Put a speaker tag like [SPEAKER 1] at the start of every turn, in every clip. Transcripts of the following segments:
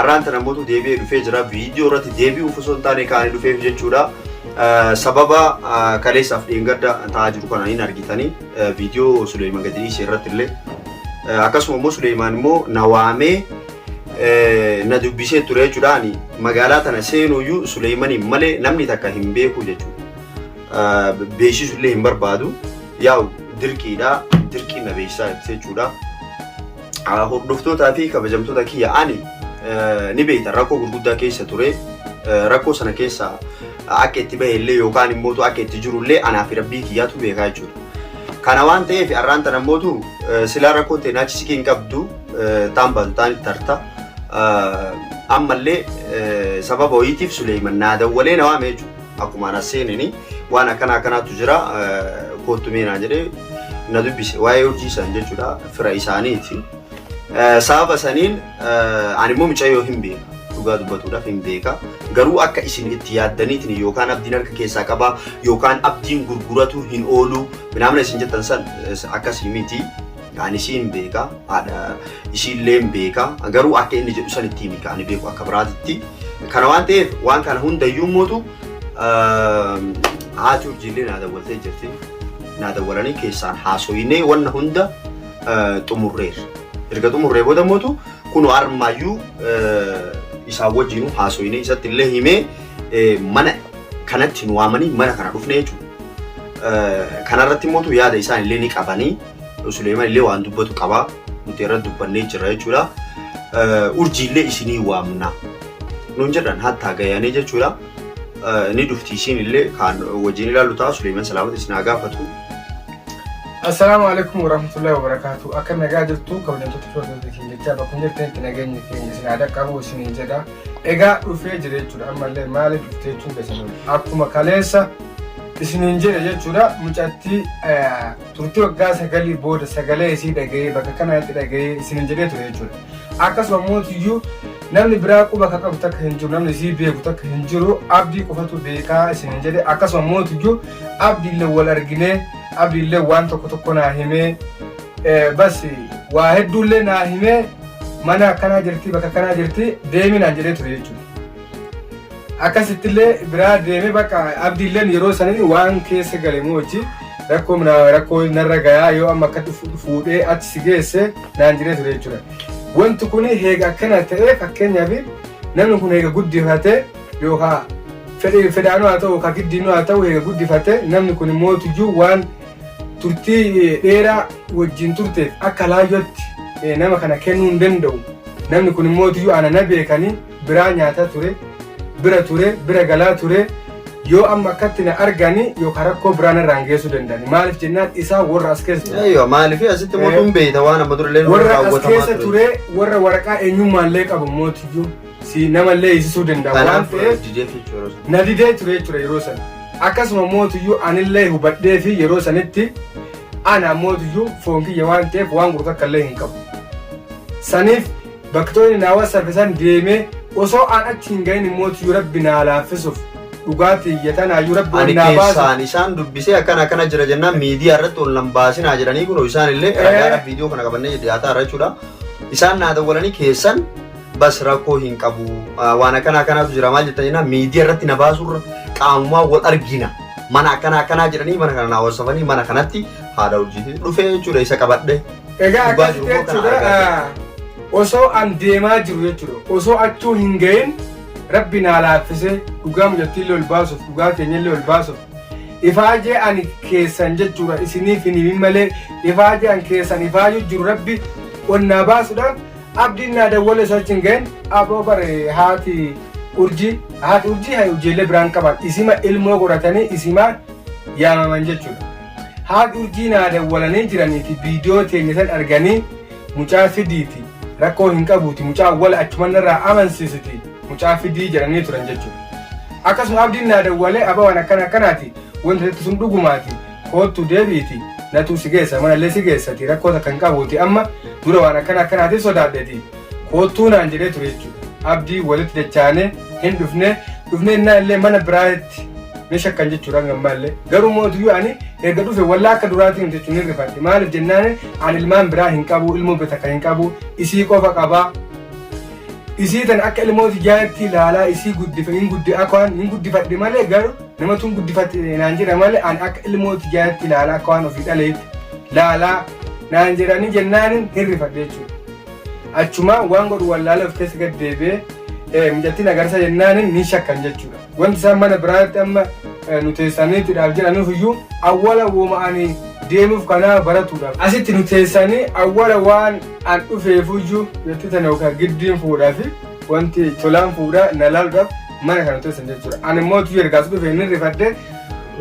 [SPEAKER 1] Arraan tana mootu deebi'ee dhufee jira. Viidiyoo irratti deebi'uuf osoo hin taane kaanii dhufeef jechuudha. Sababa kaleessaaf dheengadda ta'aa jiru kana hin argitanii viidiyoo Suleeman gadi dhiise irratti illee akkasuma immoo Suleeman immoo na waamee na dubbisee ture jechuudha. Ani magaalaa tana seenuyyuu Suleemaniin malee namni takka hin beeku jechuudha. Beeksisu illee hin barbaadu. Yaa'u dirqiidha. Dirqiin na beeksisaa jechuudha. Ah, Hordoftootaa fi kabajamtoota kiyya ani eh, ni beekta rakkoo gurguddaa keessa ture Eh, rakkoo sana keessa akka itti bahe illee yookaan immoo akka itti jiru illee anaa fi rabbii kiyyaatu beekaa jechuudha. Kana waan ta'eef har'aan tana mootu eh, silaa rakkoon ta'e naachi siqii hin qabdu eh, taan baatu taan itti harta. Eh, Ammallee eh, sababa wayiitiif Suleeyman naa dawwalee na waame jechuudha. Akkumaan as seenini waan akkana akkanaatu jira koottu mee naan jedhee na dubbise waa'ee urjii san jechuudha fira isaaniiti. Sababa saniin ani immoo mucayyoo hin beeka. dhugaa dubbatuudhaaf hin beeka. Garuu akka isin itti yaaddaniitiin yookaan abdiin harka keessaa qabaa yookaan abdiin gurguratu hin oolu minaamina isin jettan san akkasii miti. Ani isiin beeka, haadha isiilleen beeka. Garuu akka inni jedhu sanitti himi ka ani beeku akka biraatitti. Kana waan ta'eef waan kana hundayyuu mootu haati urjiillee naa dawwaltee jirti. Naa dawwalanii keessaan haasoyinee wanna hunda xumurreerra. Erga xumurree booda mootu kunoo armaayyuu isaan wajjinuu haasoyinee isatti illee himee mana kanatti nu waamanii mana kana dhufnee jechuudha. Kanarratti mootu yaada isaan illee ni qabanii. Suleeman illee waan dubbatu qaba. Nuti irratti dubbannee jirra jechuudha. Urjii illee isinii waamna. Nuun jedhan hattaa gayaanee jechuudha. Ni dhufti isiin illee kaan wajjin ilaallu ta'a. Suleeman salaamata isin haa gaafatu.
[SPEAKER 2] Assalaamu alaikum warahmatullahi wabarakatuh. Akka nagaa jirtu kabajamtoota firoota keenya jechaa bakka hin jirtanitti nageenyi keenya isin haa dhaqqabu isiniin jedha. Egaa dhufee jira jechuudha ammallee maaliif dhufte jechuun keessan akkuma kaleessa isiniin jedhe jechuudha mucattii turtii waggaa sagalii booda sagalee isii dhaga'ee bakka kanatti dhaga'ee isinin jedhee ture jechuudha. Akkasuma mootiyyuu namni biraa quba akka qabu takka hin jiru namni isii beeku takka hin jiru abdii qofatu beekaa isinin jedhe akkasuma mootiyyuu abdiillee wal arginee abdiillee waan tokko tokko naa himee eh, bas waa hedduullee naa himee mana akkanaa jirti bakka akkanaa jirti deeminaan jedhee ture jechuudha. akkasittillee biraa deemee bakka abdiilleen yeroo saniin waan keessa gale moo hojii rakkoo minaa- rakkoo narra gayaa yoo amma akka dhufu- fuudhee achi si geesse naan jiree ture jechuudha. Wanti kun heega akkana ta'ee fakkeenyaaf namni kun heega guddifatee yookaan fedhe- fedhaanuu haa ta'u yookaan giddiinuu haa ta'u heega guddifatee namni kun immoo tuyyuu waan turtii dheeraa wajjin turteef akka laayyootti eh, nama kana kennuu hin danda'u. Namni kun immoo tuyyuu ana na beekanii biraa nyaataa ture bira ture bira galaa ture yoo amma akkatti na argani yookaan rakkoo biraa narraan geessuu danda'ani maaliif jennaan isaa warra as keessa ture Eeyyoo maaliif asitti immoo Eh.
[SPEAKER 1] tun beeyta waan amma durallee nurra warra as raawwatamaa keessa ture. ture
[SPEAKER 2] warra waraqaa eenyummaallee qabu mootiyyuu si namallee hiisisuu danda'a waan Kanaaf ta'eef didee jechuudha. na didee ture jechuudha yeroo sana akkasuma mootiyyuu anillee hubadhee fi yeroo sanitti ana mootiyyuu foon kiyya waan ta'eef waan gurgurta illee hin qabu saniif Baktooni naa wasafe san deemee osoo aan achi hin gahin immootiyyuu rabbi naa laaffisuuf dhugaa tiyya tanaayyuu rabbi ol Ani naa baasuuf keessaan isaan dubbisee
[SPEAKER 1] akkana akkana jira jennaan miidiyaa irratti ol nan baasinaa jedhanii kunoo isaan illee Eh. ragaadhaaf viidiyoo kana qabannee dhiyaataa irra jechuudha. Isaan naa dawwalanii keessan bas rakkoo hin qabu Ah, waan akkana akkanaatu jira maal jettan jennaan miidiyaa irratti na baasurra qaamumaa wal argina mana akkana akkanaa jedhanii mana kana naa wasafanii mana kanatti haadha urjiitii dhufee jechuudha isa qabadhe Egaa Gubbaa akkasitti jiru immoo
[SPEAKER 2] kana jechuudha argaa jirra. ah, osoo an deemaa jiru jechuudha osoo achuu hin ga'in rabbi naa laaffisee dhugaa mucattiillee ol baasuuf dhugaa keenyallee ol baasuuf ifaajee ani keessan jechuudha isiniif hin himin malee ifaajee an keessan ifaajuu jiru rabbi ol naa baasuudhaan abdiin naa dawwale osoo achi hin ga'in aboo bare haati urjii haati urjii haa ijoollee biraan qaban isima ilmoo godhatanii isimaan yaamaman jechuudha. Haadh urjii naa dawwalanii jiraniiti viidiyoo teenya san arganii mucaa fidiiti rakkoo hin qabuuti mucaa awwala achuman narraa amansiisiti mucaa fidii jedhanii turan jechuudha. Akkasuma abdiin naa dawwalee abaa waan akkana akkanaati wanti jettu sun dhugumaati koottu deebi'iti natuu si geessa manallee si geessati rakkoo takka hin qabuuti amma dura waan akkana akkanaatiif sodaadheti. Koottuu naan jedhee ture jechuudha. Abdii walitti dachaane hin dhufne dhufne innaa illee mana biraatti ni shakkan jechuudha hanga ammaa illee. Garuu mootuyyuu ani erga dhufe wallaa akka duraatiin jechuun hin rifadhe. Maaliif jennaan ani ilmaan biraa hin qabu ilmoo bitakka hin qabu isii qofa qaba. Isii tan akka ilmooti jaatti ilaalaa isii guddifa hin guddi akka waan hin guddifadhe malee garuu namatu hin guddifate naan jedha malee ani akka ilmooti jaatti ilaalaa akka waan ofii dhaleetti laalaa naan jedhanii jennaan hin rifadhe jechuudha. Achumaa waan godhu wallaalee of keessa gad deebi'ee mucattiin agarsa jennaan ni shakkan jechuudha. Wanti isaan mana biraatti amma nu teessanii tidhaaf jedhanuuf iyyuu awwala wooma'anii deemuuf kanaa baratuudhaaf. Asitti nu teessanii awwala waan an dhufeef iyyuu jetti tana yookaan giddiin fuudhaa fi wanti tolaan fuudhaa na laaluudhaaf mana kana teessan jechuudha. Ani immoo tuyyu ergaas dhufee ni rifadhee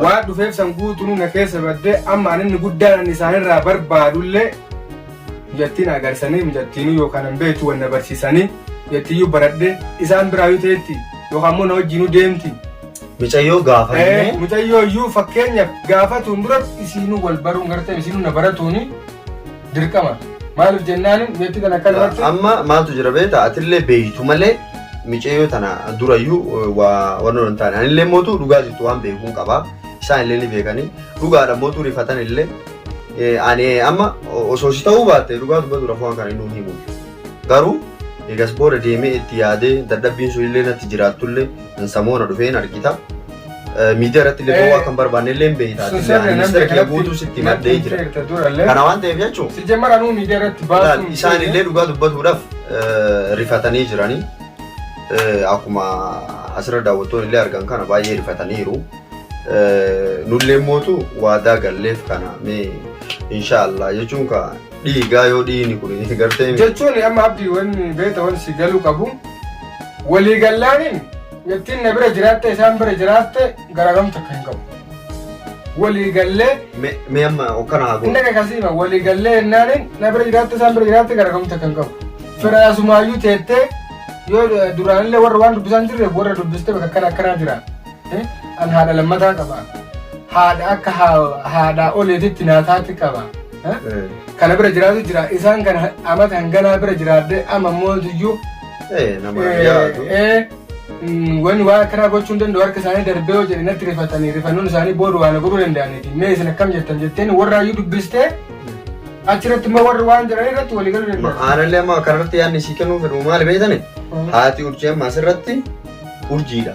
[SPEAKER 2] waan dhufeef san guutuu na keessa baddee amma ani inni guddaan isaanirraa barbaadullee Mijattii na agarsisanii, mijattiinuu yookaan hin beektu wal na barsiisanii, mijattiiyyuu baradhe isaan biraayyuu teetti yookaan immoo na wajjinuu deemti. Micayyoo
[SPEAKER 1] gaafannee. Micayyoo iyyuu
[SPEAKER 2] fakkeenyaaf gaafatuun duratti isiinuu wal baruun gartee isiinuu na baratuuni dirqama. Maaliif jennaan mijattii kana akka duratti. Amma maaltu jira
[SPEAKER 1] beektaa atillee beektu malee micayyoo tana durayyuu waa waan hin taane anillee mootu dhugaa jirtu waan beekuun qaba. Isaan illee ni beekanii dhugaadha mootu rifatan illee Ani amma osoo si ta'uu baatte dhugaa dubbatuudhaaf waan kana inni himu. Garuu eegas booda deemee itti yaadee dadhabbiin sun illee natti jiraattullee hin samoona dhufee hin argita. Miidiyaa irratti illee ba'uu akka hin barbaanne illee hin beekta. Sun sirrii namni Ministeera kiyya guutuu sitti maddee jira. durallee. Kana waan ta'eef jechuun Si jammara nuu miidiyaa irratti
[SPEAKER 2] Laal, baasuun. isaan illee dhugaa
[SPEAKER 1] dubbatuudhaaf eh, rifatanii jiranii Eh, akkuma asirra daawwattoon illee argan kana baay'ee rifataniiru. Nulleen mootu waadaa galleef kana mee inshaallah jechuun ka dhiigaa yoo dhiini kun gartee jechuun amma abdii
[SPEAKER 2] wanni beeta wanni si galuu qabu walii gallaaniin ittiin na bira jiraatte isaan bira jiraatte garaagamta akka hin qabu walii gallee me- mee amma
[SPEAKER 1] okkana haa inni godhu. akka kasiima walii
[SPEAKER 2] gallee jennaaniin na bira jiraatte isaan bira jiraatte garaagamta akka hin qabu firaasumaayyuu teettee yoo duraanillee warra waan dubbisaa hin jirreef warra dubbiste bakka akkana akkanaa jira An haadha lammataa qaba. Haadha akka haadhaa oleetitti naataatti qaba. Kana bira jiraatu jira. Isaan kan amata hanganaa bira jiraadde amma immoo iyyuu. Nama
[SPEAKER 1] yaadu.
[SPEAKER 2] Wani waa akkanaa gochuu hin danda'u harka isaanii darbee yoo jedhe natti rifatanii rifannoon isaanii booda waan godhuu danda'aniiti. Mee isin akkam jettan jetteen warra iyyuu dubbistee achirratti immoo warri waan jiran irratti walii galuu danda'u. Aanallee amma kanarratti
[SPEAKER 1] yaadni sii kennuu fedhu maali beektani? Haati urjii amma asirratti urjiidha.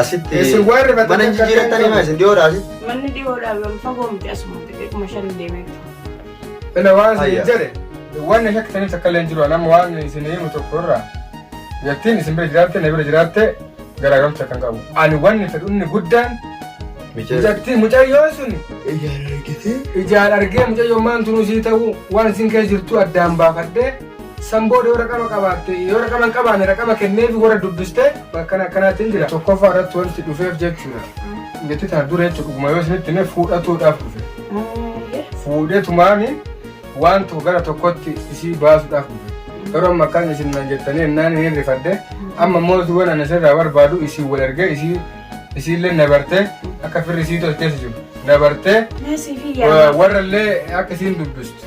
[SPEAKER 1] Asitti Isin waan rifatanii mana hin jijjiirrattanii maa isin dhiyoodha asitti? Manni dhiyoodhaa wal
[SPEAKER 3] fagoo miti asuma xixiqquma shan deemee bitu. Ila
[SPEAKER 2] waan isin Ayya. jedhe waan na shakkisaniif takka illee hin jiru nama waan isin himu tokko irraa yattiin isin bira jiraatte na bira jiraatte garaagarumsa kan qabu. Ani wanni fedhu inni guddaan mucattii mucayyoo sun ijaan argitee ijaan argee mucayyoo maan tunuu sii ta'uu waan isin keessa jirtu addaan baafadhee San booda yoo raqama qabaatte, yoo raqama hin qabaanne raqama kenneefi warra dubbistee akkana akkanaatiin jira. Tokkoffaa irratti wanti dhufeef jechuudha. Nitti tana dura jechuudha dhuguma yoo isinitti hime fuudhatuudhaaf dhufe. Fuudhee tumaani waan tokko gara tokkotti isii baasuudhaaf dhufe. Yeroo amma akkaan isin nan jettanii ennaan hin rifadde amma immoo duwan ani sirraa barbaadu isin wal ergee isii isiillee na bartee akka firri isii tolcheessu jiru na bartee Meesii fi yaa. warra illee akka isiin dubbistu.